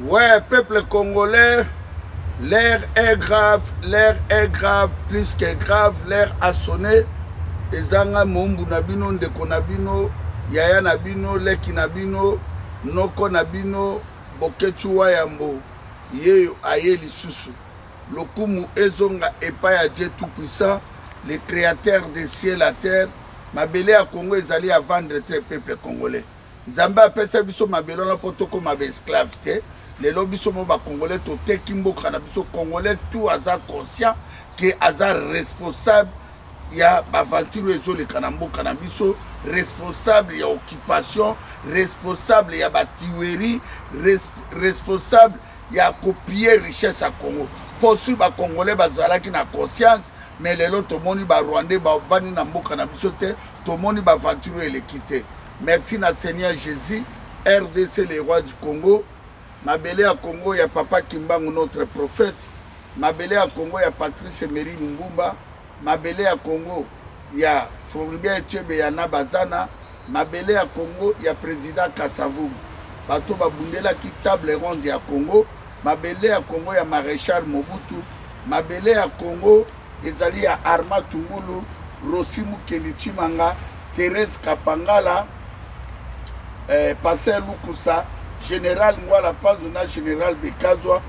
Ouais, peuple congolais, l'air est grave, l'air est grave, plus que grave, l'air a sonné. ezanga mombu na bino ndeko na bino yaya na bino leki na bino noko na bino bokechu wa yambo yeyo aye lisusu lokumu ezonga epai ya dieu tout puissant le créateur de ciel à terre mabele ya congo ezali ya vendre te peuple congolais nzambe apesa biso mabele wana mpo tokoma baesclave te lelo biso mo bakongolais toteki mboka na biso congolais tout aza conscient ke aza responsable ya baventure oyo ezoleka na mboka na biso responsable ya occupation responsable ya batiweri res, responsable ya kopie richesse ya congo mpo sur bacongolais bazalaki na conscience mais lelo tomoni barwandais bavandi na mboka na biso te tomoni baventure oyo eleki te merci na seigneur jésus rdc le roi du congo mabele ya congo ya papa kimbangu notre prophète mabele ya congo ya patrice emery lumbumba mabele ya congo ya floribia etiebe ya na bazana mabele ya congo ya président kasavubu bato babundelaki table ronde ya congo Mabele ya Congo ya Marechal Mobutu, mabele ya Congo ezali ya Arma Tungulu, Rosi Mukeli Chimanga, Therese Kapangala, eh, Pasteur Lukusa, General Ngwala Panzo na General Bekazwa.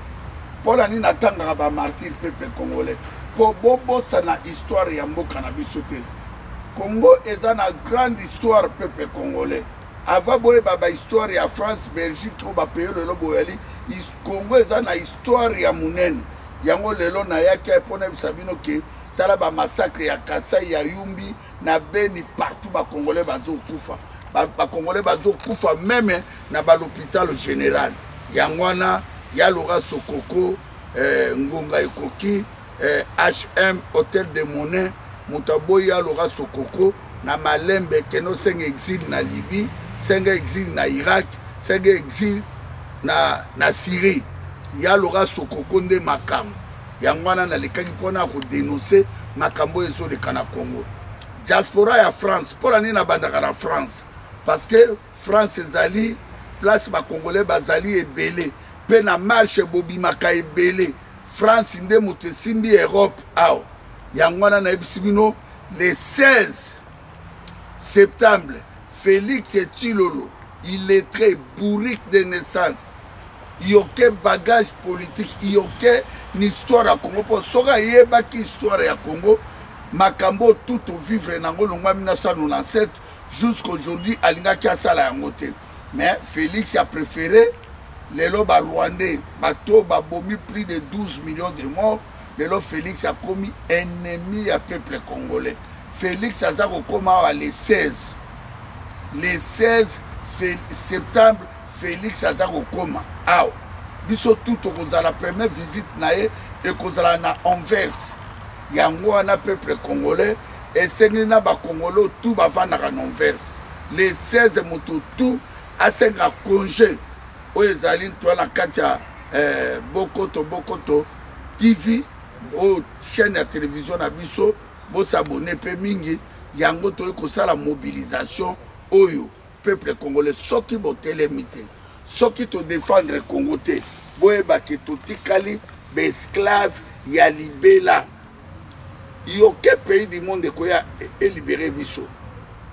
Mpo na nini natangaka ba martyr peuple congolais? Mpo bobosana histoire ya mboka na biso te. Congo eza na grande histoire peuple congolais. avant boyeba bahistoire ya france belgique to bapeyo lelo boyali congo eza na histoire ya monene yango lelo nayaki mpo nayebisa bino ke tala bamassacre ya kasai ya yumbi na beni partout bacongolais bazokufa bacongolais bazokufa meme na balopitalo général yango wana yaloga sokoko eh, ngonga ekoki eh, hm hotel de monin moto aboyi aloka sokoko na malembe kende osenga exil na libye senga exil na irak senga exil na, na syrie ya loka sokoko nde makambo yango wana nalekaki mpona ya kodenonse makambo oyo ezoleka na congo diaspora ya france mpona nini nabandaka na france parce que france ezali place bacongolais bazali ebele mpe na marche bobimaka ebele france nde moto esimbi europe awa yango wana nayebisi bino le 16 septembre félix etilolo illettré bourrique de naissance yoke bagage politique yoke ni histoire ya congo mpo soki ayebaki histoire ya congo makambo tout ovivre nango longwa 1997 jusqu'aujourd'hui alingaki asala yango te mais félix a préféré lelo barwandais bato babomi plus de 12 millions de morts lelo félix akomi ennemi ya peuple congolais félix aza kokoma awa le 16 le 16 septembre félix aza kokoma awa biso tout tokozala première visite na ye ekozala na anvers yango wana peuple congolais esengeli na bakongolo tu bafandaka na anvers le 16 moto tu asenga conge oyo ezali ntua na kati ya eh, bokoto bokoto tv oyo chaîne ya televizio na biso bosabone mpe mingi yango toyei kosala mobilisation oyo peuple congolais soki botelemi te soki todefendre congo te boyebaki totikali baesclave ya libela yoke pays du monde ekoya elibere biso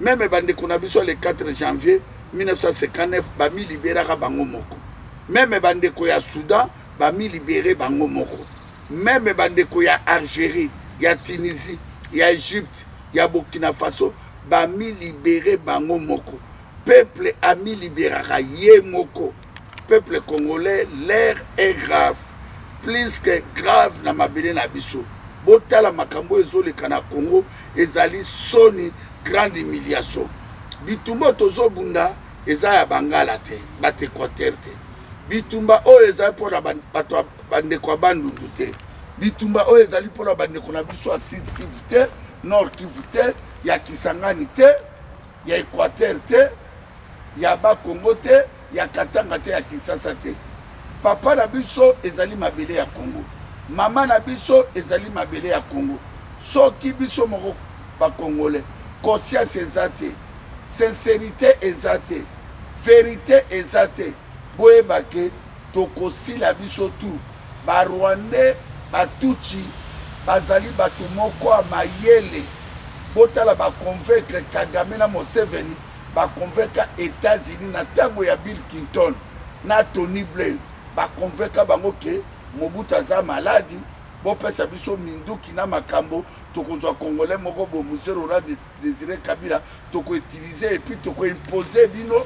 meme bandeko na biso le 4 janvier 1959 bamiliberaka bango moko meme bandeko ya soudan bamilibere bango moko meme bandeko ya algérie ya tunisie ya egypte ya burkina faso bamilibere bango moko peuple amiliberaka ye moko peuple congolais l'air est grave plus que grave na mabele na biso botala makambo ezoleka na congo ezali soni grande humiliation bitumba tozobunda eza ya bangala te bato equateur te bitumba oyo ezali mpo na bato bandeko ya bandundu te bitumba oyo ezali mpo na bandeko na biso ya sud kivu te nord kivu te ya kisangani te ya equateur te ya ba congo te ya katanga te ya kinshasa te papa na biso ezali mabele ya congo mama na biso ezali mabele ya congo soki biso moko bakongole conscience eza te sincerité eza te verité eza te Boyeba ke tokosila biso tu. Ba Rwandais ba Tutsi bazali bato moko ya mayele. Botala ba convaincre Kagame na Museveni ba convainca Etats-Unis na ntango ya Bill Clinton na Tony Blair ba convainca bango ke Mobutu aza maladi bopesa biso minduki na makambo tokozwa congolais moko bo muse rora desire kabila tokoutilize epuis tokoimpose bino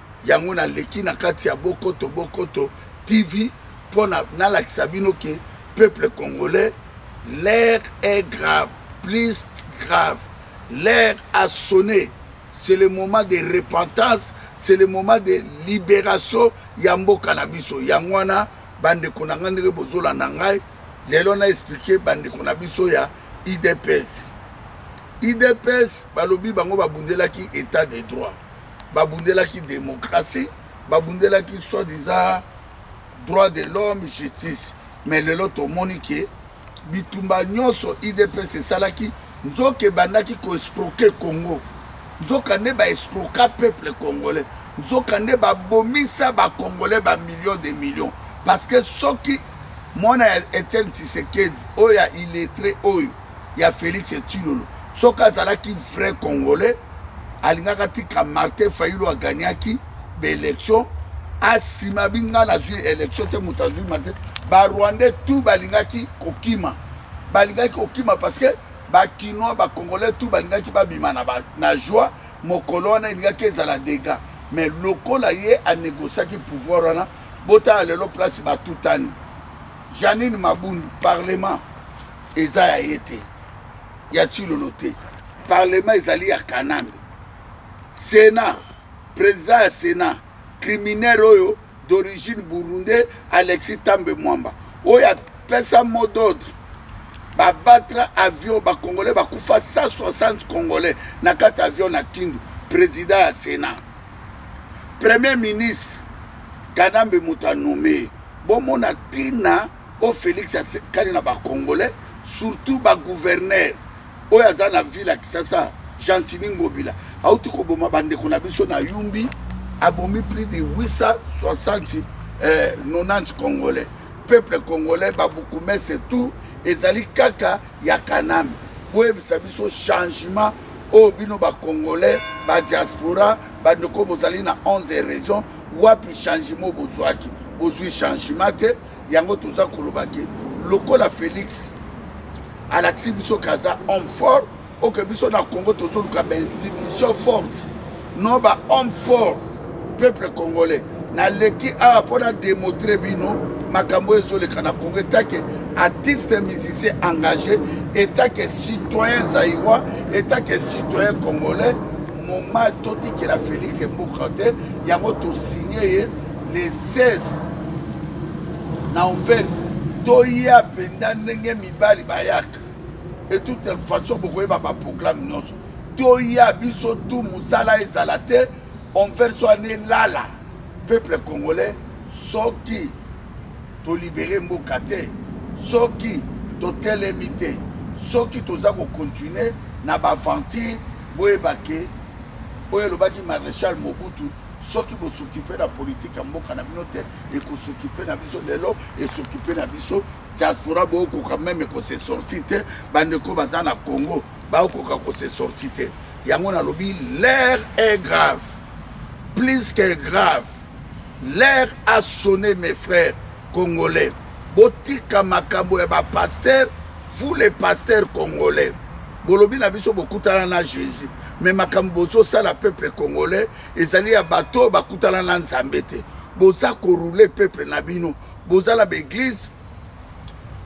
yango naleki na kati ya bokoto bokoto tv mpo nalakisa bino ke peuple congolais l'air est grave plus grave l'air a sonné c'est le moment de repentance c'est le moment de libération ya mboka na biso yango wana bandeko na ngai ndenge bozolanda ngai lelo na explike bandeko na biso ya idps idps balobi bango babundelaki état de droit babundelaki demokrasi babundelaki soit disant droit de l'homme justice mais lelo tomoni ke bitumba nyonso idps esalaki nzoka ebandaki koescroke congo nzoka nde baescroka peuple congolais nzoka nde babomisa bacongolais bamillion de millions parce que soki mwana ya etienne tisekedi oyo ya illettré oyo ya Felix Tshilolo soki azalaki vrai congolais alingaka tika Martin Fayulu agagnaki ba élection asima binga nazwi élection te moto azwi Martin ba rwandais tout balingaki kokima balingaki kokima parce que ba kinois ba congolais tout balingaki babima na, ba, na joie mokolo wana elingaki ezala dega mais lokola ye anegociaki pouvoir wana botala lelo place batutani janine mabundu parlement eza ya ye te ya chilolo te parlement ezali ya kanambe sena président ya sena criminel oyo d'origine burundais alexis tambe mwamba oyo apesa mot d'ordre babattre avion bacongolais bakufa 160 congolais na kati avion na kindu président ya sena premier ministre kanambe moto anome bomona ntina o felix asekani na bacongolais surtout bagouverneur oyo aza na ville ya kisasa gentini ngobila auti koboma bandeko na biso na yumbi abomi plus de 860 eh, 90 congolais peuple congolais babukumese tout ezali kaka ya kanami boyebisa biso changement oyo bino bacongolais badiaspora bandeko bozali na 11 région wapi changement bozwaki bozwi changement te yango toza koloba ke lokola félix alakisi biso ke aza homme fort oke biso na congo tozoluka bainstitution forte no bahomme fort peuple congolais naleki awa mpo na demontre bino makambo oyo ezoleka na congo etake artiste musicien engagé etake citoyen zaiwa etake citoyen congolais moma totikela félix mboka te yango tosigne ye le 16 na ouvert toya mpenza ndenge mibali bayaka et toute façon bokoyeba baprogramme nyonso toya biso tu mosala ezala te onvers so ane lala peuple congolais soki tolibere mboka te soki totelemi te soki toza kokontinue na baaventure boyebake oyo elobaki maréchal mobutu soki bosokipe na politike ya mboka na bino te ekosokipe na biso lelo esokipe na biso diaspora bookoka meme kose sorti te bandeko baza na congo baokoka kose sorti te yango nalobi l'air est grave plus que grave l'air a sonné mes frères congolais botika makambo ya bapaster vous les pasteurs congolais bolobi na biso bokutana na jésus me makambo bozosala peuple congolais ezali ya bato oyo bakutana na nzambe te boza korule peuple na bino boza na baeglise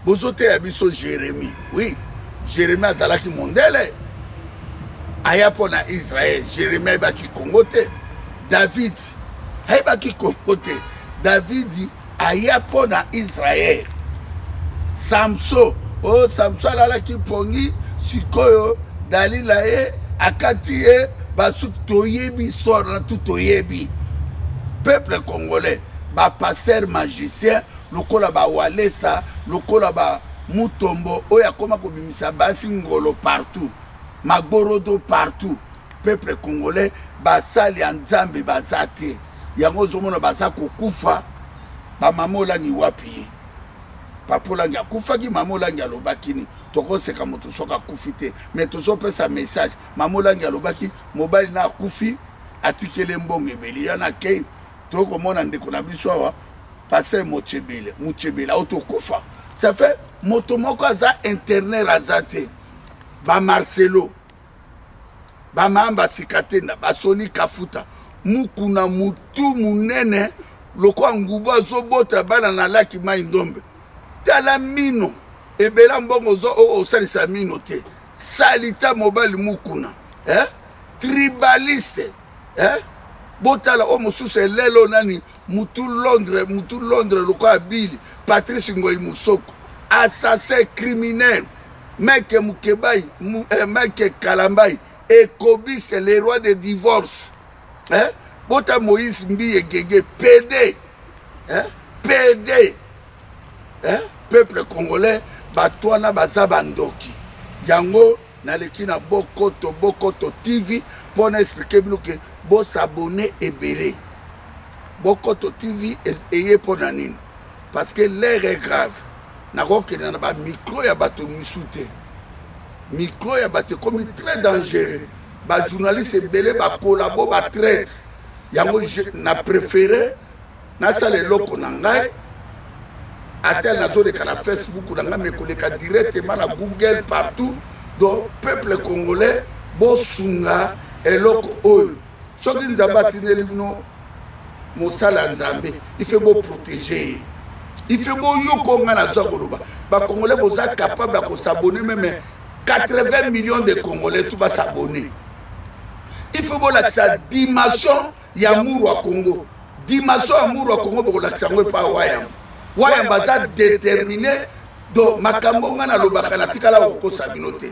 bozoteya biso jérémie oui jérémie azalaki mondele aya mpo na israel jérémie ayebaki kongo te david ayebaki kongo te davidi aya mpo na israele samso o oh, samso alalaki mpongi sikoyo dalila ye akati ye basuki toyebi histoire na tu toyebi peuple congolais bapaster magicien lokola bawalesa lokola ba mutombo oyo akoma kobimisa basi ngolo partout magorodo partout peuple congolais basali ya nzambe baza te yango ozomona baza kokufa bamama olangi wapi ye papa olangi akufaki mama olangi alobaki nini tokoseka moto soki akufi te mai tozopesa message mama olangi alobaki mobali na akufi atikeli mbongo ebeli yana akei toyei komona ndeko na biso awa paster mochebele mochebele auti okufa ça fait moto moko aza interner aza te bamarcelo bamama basika te na basoni kafuta mukuna mutu munene lokola ngubu azobota bana na laki mai ndombe tala mino ebela mbongo ozo osalisa mino te salita mobali mukuna eh? tribaliste eh? botala oyo mosusu elelo nani mutu londre mutu londre lokola bili patrice ngoi musoko assassin criminel meke mukebai eh, meke kalambai ekobise le roi de divorce eh? bota moïse mbiye gege pede eh? pede eh? peuple congolais bato wana baza bandoki yango naleki na bokoto bokoto tv mpo na explike bino ke bosabone ebele bokoto tv eye mpo na nini parce que l'air est grave nakokende na bamikro ya bato misu te mikro ya bato ekomi très dangereux bajournaliste ebele bakolabo batraite yango na préféré nasala eloko na ngai ata nazoleka na facebook na ngai mekoleka directement na google partout donc peuple congolais bosunga eloko oyo soki nzambe atineli bino mosala ya nzambe ife boprotege ye ife boyoko ngai nazwa koloba bacongolais boza capable ya kosabone meme 80 millions de congolais tu basabone ife bolakisa dimension ya muru ya congo dimension ya muru ya congo bokolakisa yango epa wayamba wayamba aza determine do makambo ngai nalobaka natikala kokosa bino te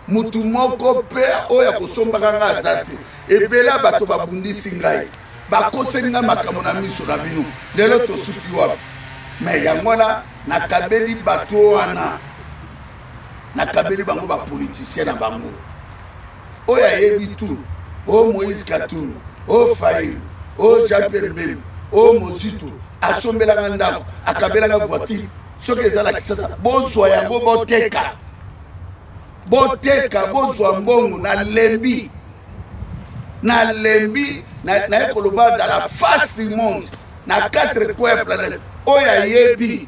motu moko mpe oyo akosombaka ngai aza te ebele ya bato babundisi ngai bakoseli ngai makambo na miso na bino lelo tosuki wapi me yango wana nakabeli bato wana nakabeli bango bapolitisien na bango oyo ayebi tout o moïse katumbi o fail o jean pierre mbembe o mozitu asombelanga ndako akabelanga voiture soki eza na kisasa bozwa yango boteka boteka bozwa mbongo nalembi nalembi naye koloba dans la face du monde na quatre coin planète oyo ayebi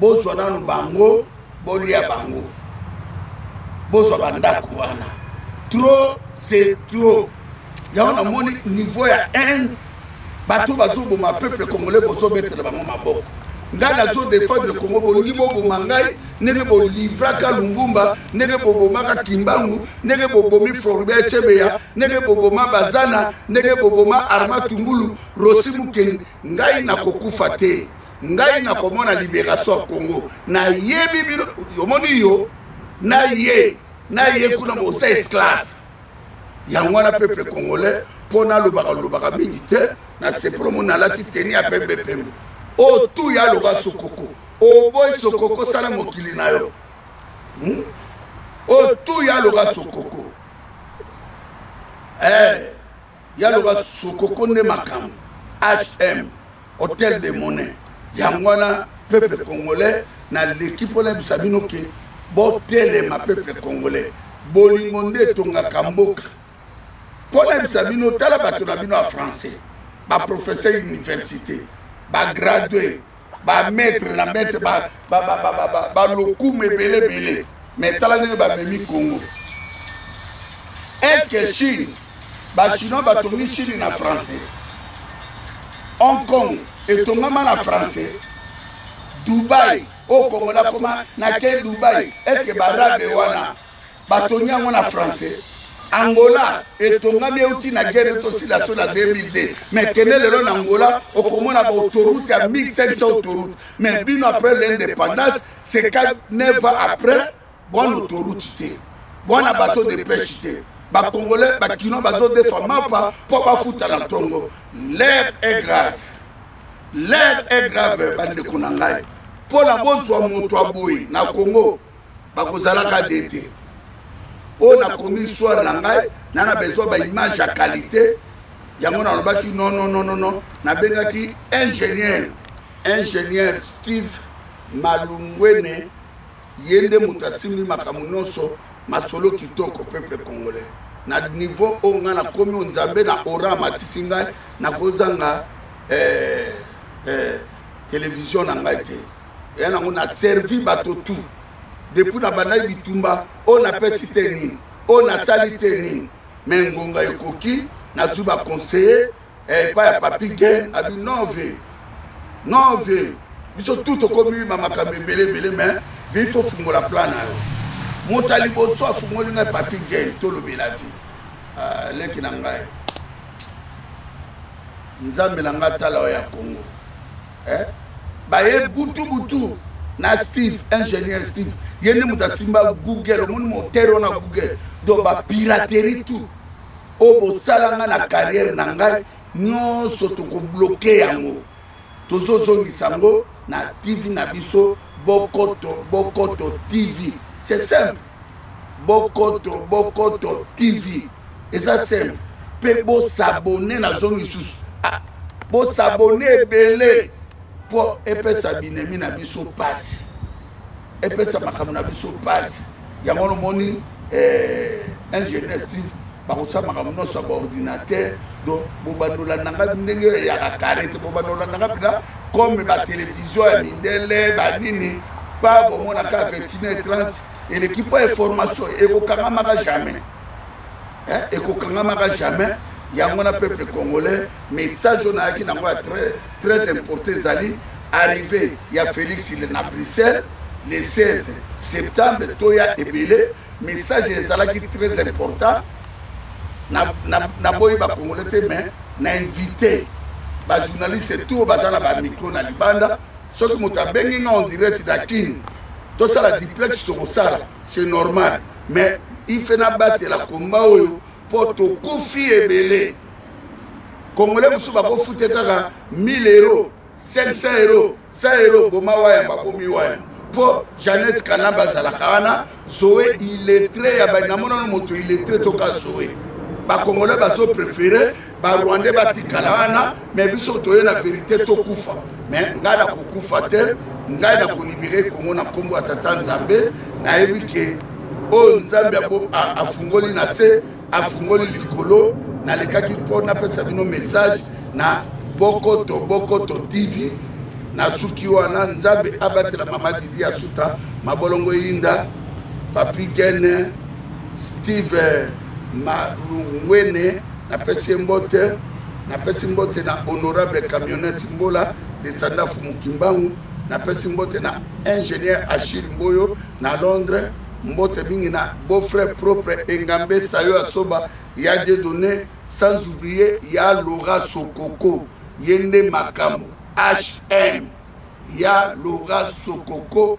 bozwa nanu bango bolia bango bozwa bandako wana trop c'est trop yango namoni niveau ya haine bato bazoboma peuple congolais bozobetela bango maboko ngai nazo defendre congo bolingi boboma ngai ndenge bolivraka lumbumba ndenge bobomaka kimbangu ndenge bobomi floribert cebeya ndenge boboma bazana ndenge boboma arma tumbulu rosi mokeni ngai nakokufa te ngai nakomona liberation ya congo nayebi bino omoni yo na ye na ye kuna boza esclave yango wana peuple congolais mpo nalobaka lobaka mingi te nasepolo mo nalati teni ya pembe pembe oyo tu ya loka sokoko oboyi sokoko sala mokili na yo hmm? oyo tu ya loka sokoko eh, ya loka sokoko nde makambo hm hotel de monnaie yango wana peuple congolais naleki mpo nayebisa bino ke botelema peuple congolais bolingo nde etongaka mboka mpo nayebisa bino tala bato na bino ya français baprofesseur université bagradue bamaître na maître balokumu ebele ebele me tala ndenge bamemi congo est ce que chine ba chinois batongi chine na français hong kong etongama na français dubai oyo kongo nakoma nake dubai estce barabe wana batongi yango na français angola etongami euti na gere tosila so na 2002 me kende lelo na angola okomona baautorute ya 1500 autoroute me bino après l'indépendance seka 9 ans après bwana autoroute te bwana bateau de pêche te bacongolais bakino bazodefa mapa mpo bafuta na ntongo l'air est grave l'air est grave bandeko na ngai mpo na bozwa moto ya boye na congo bakozalaka de te oyo nakomi histoire na ngai na na besoin baimage ya qualité yango nalobaki nonononono nabengaki ingénieur ingénieur steve malungwene ye nde moto asimbi makambo nyonso masolo kitoko peuple congolais na niveau oyo ngai nakomi oyo nzambe na ora amatisi ngai nakozanga eh, eh, televizio na ngai te eya nango na servi bato tout depuis nabandaki bitumba oyo napesi te nini oyo nasali te nini me ngonga ekoki nazwi baconseiller eh, epai ya papi gen abi non vie non vie biso tu tokomi ma makambo ebele ebele mais vie fo fungola plan na yo moto ya liboso afungoli ngai papi gen tolobela vie ah, leki na ngai nzambe na ngai tala oyo ya congo eh? baye butu butu na steve ingénieur steve ye nde moto asimba google omoni motere wana google donc bapiraterie tout oyo bosala nga na carrière na ngai nyonso tokobloke yango tozozongisa yango na tv na biso bokoto bokoto tv c'est simple bokoto bokoto tv eza simple mpe bosabone nazo misusu ah, bosabone ebele mpo epesa binemi na biso mpasi epesa makambo na biso mpasi yango wana omoni eh, ingénieur steve bakosala makambo nyonso ya baordinateur donc bobandola nanga ndenge oyo eyaka kare te bobandola nanga mpena comme batelevizio ya mindele banini pa bomonaka 29 30 eleki mpo ya formation ekokangamaka jamais eh, ekokangamaka jamais yango na peuple congolais message oyo nayaki nango ya très, très important ezali arrivé ya félix na bruxelles le 16 septembre toya ebele message ezalaki très important naboyi bakongole te mais na invité bajournaliste tour baza na bamicro na libanda soki moto abengi nga on direct na kin tosala duplex tokosala c'est normal mais il fait nabatela komba oyo mpo tokufi ebele congolais mosusu bakofute kaka 1000 euro 500 euro 100 euro boma waya bakomi waya mpo janete kanamba azalaka wana zoe iletre ya banamonano moto iletre toka zoe bakongolais bazoprefere barwandais batikala wana me biso toye na verite tokufa me ngai nakokufa te ngai nakolibere kongo na nkombo ya tata nzambe nayebi ke oyo nzambe afungoli na se afungoli likolo nalekaki mpo napesa bino message na bokoto bokoto tv nasuki wana nzambe abatela mama didi asuta mabolongo eyinda papi gene steve malungwene napesi ye mbote napesi mbote na honorable camionete mbola desanda fumu kimbangu napesi mbote na ingénieur achille mboyo na londres mbote mingi na beau frère propre engambe sayo asoba ya de donné sans oublier ya laura sokoko ye nde makambo hm ya laura sokoko